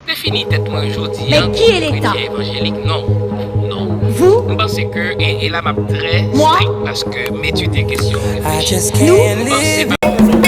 Se fini tèt mwen jodi an pou kretyen evanjelik non. Non. M panse ke, e la m ap trè strik paske m etidye kesyon m reflechi. M panse pa pou nou.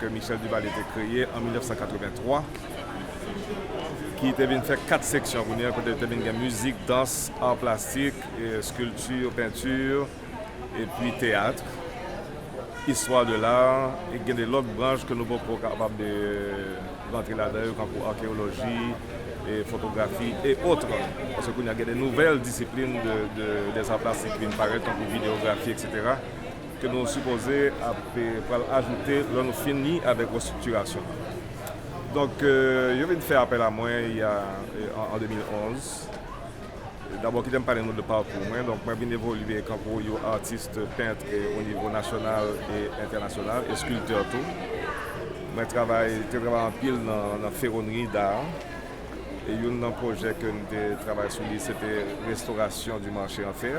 ke Michel Duvalier te kreye an 1983, ki te vin fè 4 seksyon kounye a, kote te vin gen mizik, dans, art plastik, sculpture, peinture, epi theatre, histoire de l'art, e gen de lòt branch ke nou poko kapab de rantre ladan yo kankou arkeoloji, fotografi e otre, paske kounye a gen de nouvèl disiplin des arts plastiques ki vin parèt tankou videografi etc. ke nou sipoze ap pral ajoute lè nou fini avèk restriktirasyon an. Donk, yo vin fè apèl a mwen y a an 2011. Dabò kite m pale nou de pakou mwen. Donk, mwen vin evolye kankou yon atis pent o nivo nasyonal e entènasyonal, e skiltè tou. Mwen travay, te travay anpil nan ferronnerie d'art. E youn nan pwojè ke m te travay sou li se te restaurasyon di marche an fer.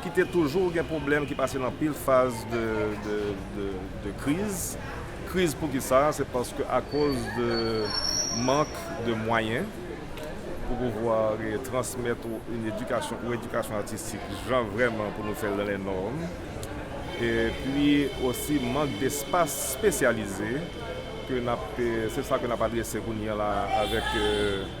ki te toujou gen pwoblèm ki pase nan anpil faz de kriz, kriz pou ki sa, se paske akoz de mank de mwayen pou pouvwa transmèt ou yn edikasyon ou edikasyon atistik jan vrèman pou nou fèl nan lè nòm e pi osi mank de espas spesyalize ke nap se sa ke nap adrese kounye la avèk.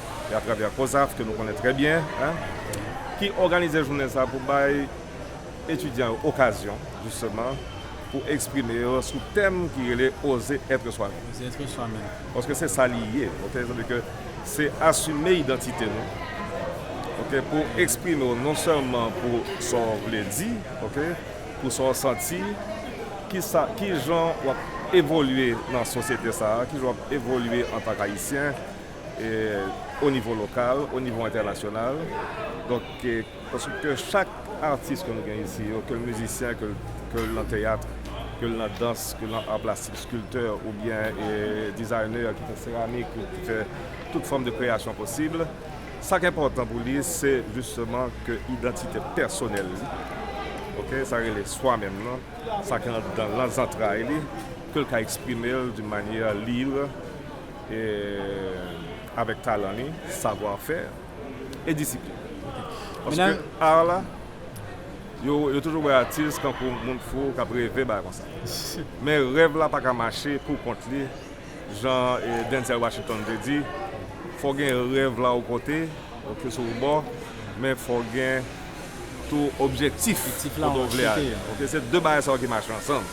e atravè COSAF ke nou konnen trè byen ki òganize jounen sa pou bay etidyan yo okazyon jisteman pou eksprime yo sou tèm ki rele Oser être soi-même paske se sa li ye ok sa vle di ke se asime idantite nou ok pou eksprime w non sèlman pou sa w vle di ok pou sa w santi ki sa ki jan w ap evolye nan sosyete sa ki jan w ap evolye antank ayisyen o nivo lokal, o nivo entènasyonal. Donk, paske ke chak atis ke nou gen isi yo, ke l mizisyen, ke l nan teyat, ke l nan dans, ke l nan ar plastik, skiltè, oubyen dizaynè ki fè seramik, ki fè tout fòm de kreyasyon posib, sa k enpòtan pou li, se jisteman ke idantite pèsonèl li, ok, sa rele swa menm nan, sa ki andan, nan zantray li, ke l ka eksprime l doun manyè lib, Avèk talan li, savwa fè, e disiplin. Paske art la, yo toujou wè atis tankou moun fou k ap reve bagay konsa. Men rèv la pa ka mache pou kont li jan Denzel Washington te di, fò w gen rèv la ou kote, ok sou ou bò, men fò w gen tou objektif kote ou vle ale. Se de bagay sa yo ki mache ansanm.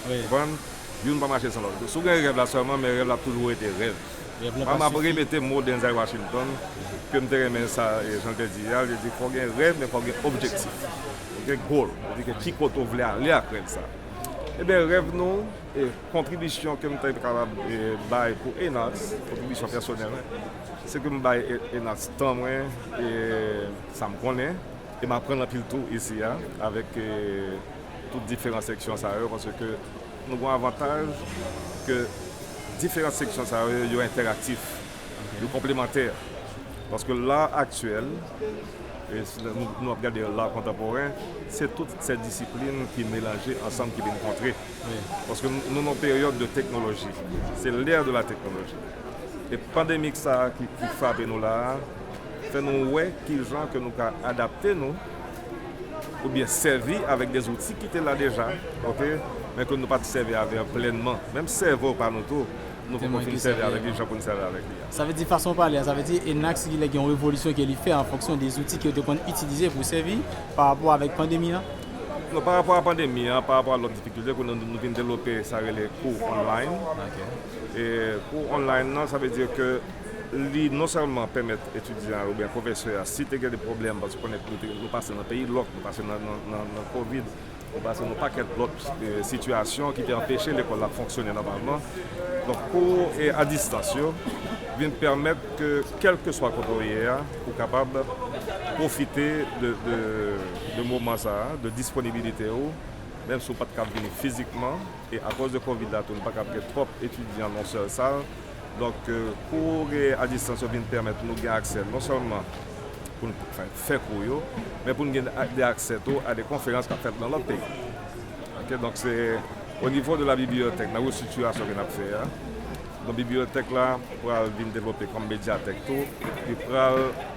Youn pa mache san lòt. Si w gen rèv la sèlman, men rèv la ap toujou rete rèv. Mwen m ap repete mo Denzel Washington ke m te renmen sa jan l te di a, li te di fò w gen rèv men fò w gen objektif, gen goal. Sa vle di ke ki kote w vle ale ak rèv sa. Ebyen rèv nou, kontribisyon ke m te kapab bay pou Enacs, kontribisyon pèsonèl mwen, se ke m bay Enacs tan mwen e sa m konnen e m aprann anpil tou isi a avèk tout diferan seksyon sa yo paske nou gen yon avantaj ke diferan seksyon sa yo yo entèraktif, yo konplemantè paske la aktyèl e nou ap gade la kontanporen se tout sè disiplin ki melanje ansanm ki vin kontre paske nou nan yon peryòd de teknoloji se lè de la teknoloji e pandemik sa ki frape nou la a fè nou wè kijan ke nou ka adapte nou oubyen sèvi avèk de zouti ki te la deja, ok, men ke nou pa t sèvi avè yo plènman, menm sèvo pa nou tou, nou poko fin sèvi avèk li jan pou n sèvi avèk li a. Sa vle di fason w pale a, sa vle di ENAC gen yon revolisyon ke li fè an fonksyon de zouti ke yo te konn itilize pou sèvi pa rapò avèk pandemi an? Non, pa rapò a pandemi an, pa rapò a lòt difikilte, kounye a nou vin devlope sa rele kou online, e kou online nan sa vle di ke. Li non sèlman pèmèt etidyan a oubyen pwofesè a si te gen de pwoblèm paske konnen nou pase nan peyi lòk, nou pase nan kovid, nou pase nan pakèt lòt sitiyasyon ki te anpeche lekòl la fonksyone nòmalman. Donk kou a distans yo vin pèmèt ke kèlkeswa kote ou ye a ou kapab pwofite de moman sa a, de disponibilite ou menm si ou pa t kab vini fizikman e akoz de kovid la tou nou pa kab gen twòp etidyan nan yon sèl sal. Donk, kou a distans yo vin pèmèt nou gen aksè non sèlman pou n fè kou yo, men pou n gen de aksè tou a de konferans k ap fèt nan lòt peyi. Ok, donk se o nivo de la bibliyotèk nan restritirasyon ke n ap fè a. Donk bibliyotèk la pral vin devlope kòm medyatèk tou, li pral.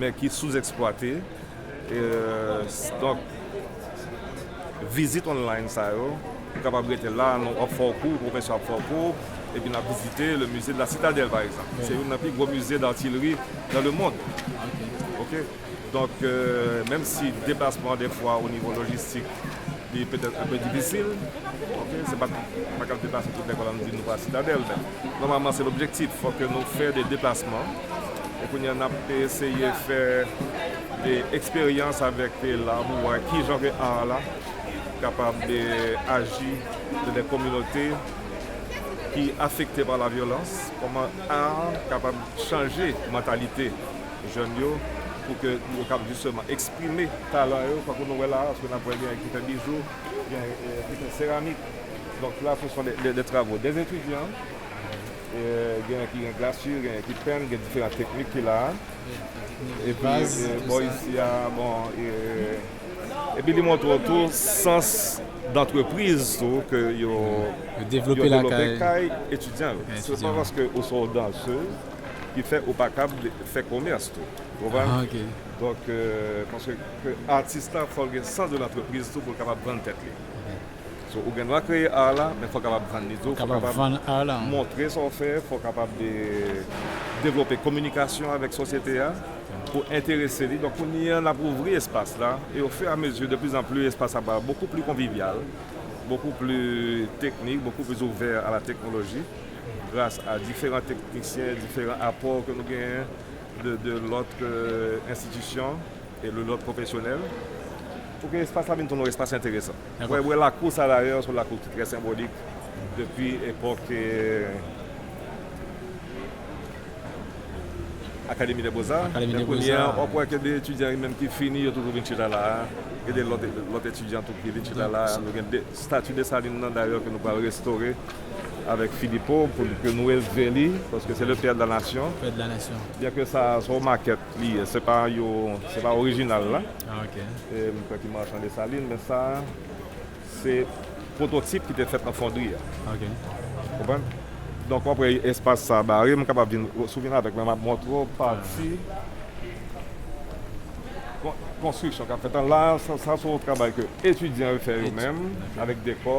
men ki souzèksplwate donk vizit online sa yo ou kapab rete la nou ap fè w kou pwofesè ap fè w kou epi n ap vizite le musée de la citadelle pa egzanp ki se youn nan pi gwo musée d'artillerie dans le monde ok donk menm si deplasman dèfwa o nivo lojistik Li petèt anpe difisil, ok, se pa tout, m pa kab deplase tout lekòl an di nou pral Sitadèl, men nòmalman se lobjektif, fò ke nou fè de deplasman, e kounye a n ap eseye fè de eksperyans avèk la pou wè ki jan ke ar la kapab aji nan de kominote ki afekte pa la vyolans, kòman ar kapab chanje mantalite jèn yo pou ke yo kab jisteman eksprime talan yo tankou nou wè la paske n ap wè gen yon ki fè bijou gen yon ki fè seramik donk la se son de travo de etidyan gen yon ki gen glasi gen yon ki penn gen diferan teknik ki la epi bò isi a bon epi li montre w tou sans dantrepriz tou ke yo devlope kay etidyan yo se pa paske ou se yon dansez. ki fè ou pa kab fè komès tou ou konprann ah ok donk paske ke atis la fòl gen sans de l'entreprise tou poul kapab vann tèt li so ou gen dwa kreye art la men fòw kapab vann li tou fòw kapab vann art la montre sa ou fè fòw kapab devlope kominikasyon avèk sosyete a pou enterese li donk kounye an nap ouvri espas la e o fur a mezi de pli an pli espas la pral bokou pli konvivyal bokou pli teknik bokou pli ouvè a la teknoloji. gras a diferan teknisyen, diferan apò ke nou genyen de lòt enstitisyon e de lòt pwofesyonèl pou ke espas la vin tounen yon espas enteresan. Mwen wè lakou sa dayè se yon lakou ki trè senbolik depi epòk Akademi dè Bozà. Men kounye a wap wè gen de etidyan menm ki fini yo toujou vin chita la a. Gen de lòt etidyan tou ki vin chita la a. Nou gen stati Desalin nan dayè ke nou pral restore. avèk Filipo pou li ke nou elve li paske se le père de la nation byen ke sa se yon makèt li ye se pa yo se pa orijinal la m kwè ki Marchand Dessalines men sa se pwototip ki te fèt nan fondri a ou konprann donk wap wè espas sa bare m kapab vin si w vin avèk mwen map montre w pati konstriksyon kap fèt an la sa se yon travay ke etidyan yo fè yo menm avèk dekò.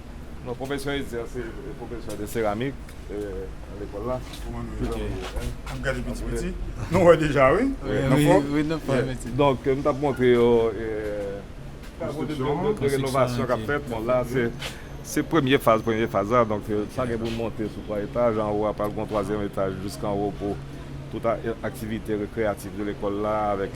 Non professor Etzer se professor de céramique nan lekol la. Map gade piti piti nou wè deja wi nan fo. Donk m tap montre yo travaux de rénovation kap fèt bon la se premye faz premye faz la donk sa gen pou monte sou 3 etaj anwo a pral gon twazyèm etaj jiskanwo pou tout aktivite rekreyatif de lekol la avèk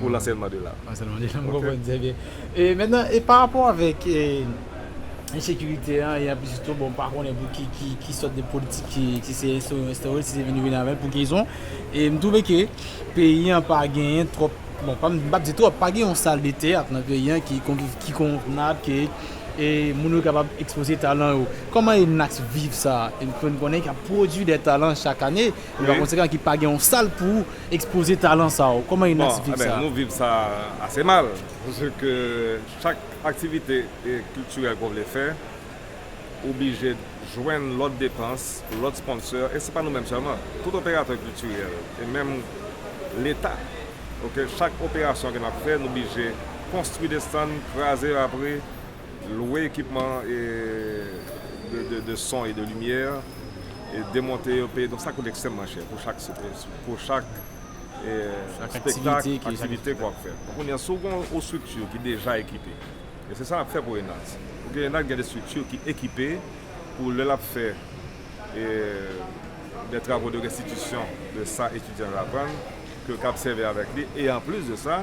pou lanselman de lang. Lanselman de lang, mwen konprann trè byen. E mentnan, e pa rapò avèk ensekirite an, e anplis tou, bon, m pa konnen pou ki, ki, ki sòt de politik ki, si se enstore yo enstore l, si se vini yo vini avè l, pou ki rezon, e m twouve ke peyi an pa genyen twòp, bon, pa m, m pa p di twòp, pa gen yon sal de teyat nan peyi an ki kon, ki konvnab ke e moun yo kapab ekspoze talan yo. Kòman ENNACS viv sa? Ke n konnen k ap pwodui de talan chak ane, e pa konsekan ki pa gen yon sal pou. Ekspoze talan sa ou, kòman yon atis viv sa? Nou viv sa ase mal, paske ke chak aktivite kiltirèl ke w vle fè, ou oblije jwenn lòt depans, lòt sponsè, e se pa nou menm sèlman, tout operatè kiltirèl, e menm leta, ok, chak operasyon ke n ap fè, nou oblije konstwi de stan, kraze rapre. Lwe ekipman de son e de limyè, demonte yo, peye don, sa koute ekstrèmman chè pou chak spektak, aktivite ke w ap fè. Kounye a, si w gen yon estrikti ki deja ekipe, e se sa n ap fè pou ENADS, paske ENADS gen de estrikti ki ekipe pou lè l ap fè de travo de restitisyon de sa etidyan yo aprann, ke yo kab sèvi avèk li e anplis de sa,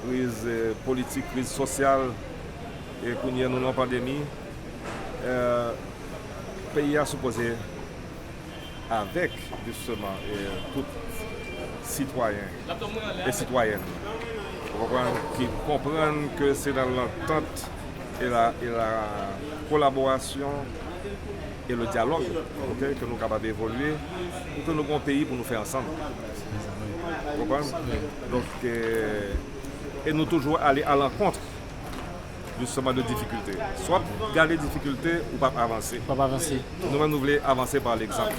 Kriz politik, kriz sosyal e kounye a nou nan pandemi. Peyi a sipoze avèk jisteman tout sitwayen e sitwayèn ou konprann ki konprann ke se nan lantant e la kolaborasyon e le dyalòg ke nou kapab evolye pou ke nou gen yon peyi pou nou fè ansanm. E nou toujou ale a lankontre jisteman de difikilte. Si w ap gade difikilte, ou p ap avanse. Nou menm nou vle avanse pa legzanp.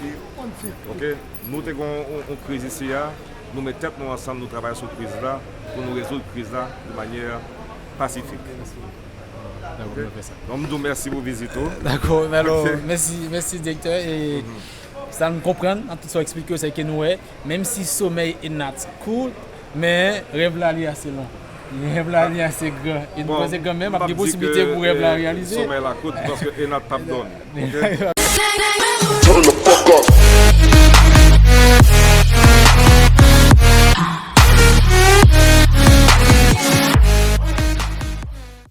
Nou te gen yon kriz isi a, nou met tèt nou ansanm, nou travay sou kriz la pou nou rezoud kriz la de manyè pasifik. Donk m di w mèsi pou vizit ou. Dakò, mèsi direktè. Sa nou konprann nan tout sa w eksplike yo se ke nou wè menm si somèy e nat kout men rèv la li ase long, rèv la li ase gran e nou panse kan menm ap gen posiblite pou rèv la reyalize. Bon, m pap di ke somèy la kout paske e nat pap dòmi, ok. Turn the fuck up.